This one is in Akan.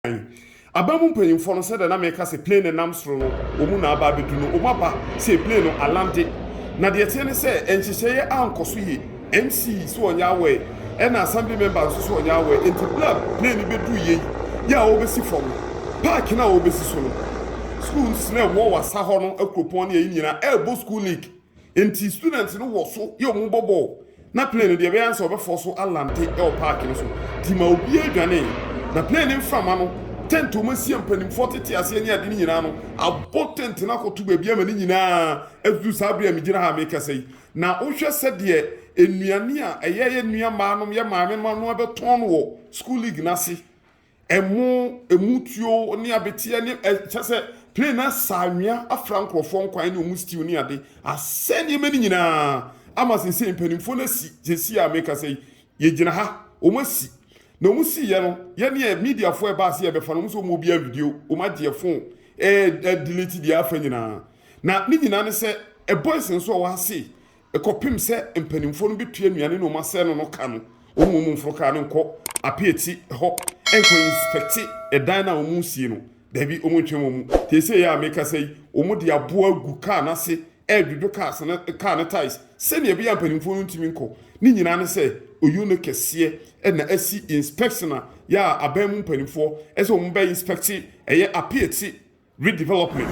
kan. Aban mu mpanyimfoɔ no, sɛdeɛ na meka sɛ plane no nam soro no, wɔn mu na aba abɛdu no, wɔn aba sei, plane no alande. Na deɛ ɛteɛ ne sɛ, nhyehyɛeɛ ankɔ so yie. MC nso ɔnyɛ aware, ɛna Assembly member nso nso ɔnyɛ aware. Enti berɛ a plane no bɛduruiɛ yi, yɛ a wɔrebɛsi fam no, park no a wɔrebɛsi so no, schools no a ɛwɔ Wassa hɔ no, Akuropɔn ne yei nyinaa ɛrebɔ school league. Enti students no wɔ so yɛ wɔn bɔbɔ o, na plane no deɛ ɛbɛyɛ ansa ɔbɛfɔ so alante wɔ park no so. Nti ma obiara dwanee, na plane no mframa no, tent a wɔasia mpanimfoɔ tete aseɛ ne ade no nyinaa no, abɔ tent no akɔto baabi ama ne nyinaa aduru saa bere a megyina ha a merekasa yi. Na wohwɛ sɛdeɛ nnuane a ɛyɛ yɛn nuammaanom, yɛn maamemma no abɛtɔn no wɔ school league no ase. Ɛmo, ɛmu tuo ne abeteɛ ne ɛ kyɛ sɛ plane no asa anwea afra nkorɔfoɔ nkwan ne wɔn stew ne ade asɛe nneɛma no nyinaa ama seesei mpanimfoɔ no asi seesei a mekasa yi yɛgyina ha wɔn asi na wɔn siiɛ no yɛneɛ mediafoɔ a ɛbaa sɛ yɛbɛfa no wɔn sɛ wɔn obi anvideo wɔn agyeɛ phone ɛɛ delete deɛ afa nyinaa na ne nyinaa ne sɛ boys nso a wɔn ase Kɔpem sɛ mpaninfoɔ no bɛtua nnuane no ɔmo asɛɛ no no ka no, ɔmo mmom mforo kaa no nkɔ apeati hɔ nkɔ inspɛkte ɛdan no a ɔmo resie no. Daabi, ɔmo ntwɛn ɔmo. Seesei yi a mekasa yi, ɔmo de aboɔ agu kaa no ase ɛredwodwo cars no, kaa no tais, sɛnea ɛbɛyɛ a mpaninfoɔ no ntumi nkɔ. Ne nyinaa ne sɛ, ɔyuo no kɛseɛ na asi inspɛkte no a yɛ a aban mu mpaninfoɔ sɛ ɔmo bɛ inspɛkte ɛyɛ apeati redevelopment.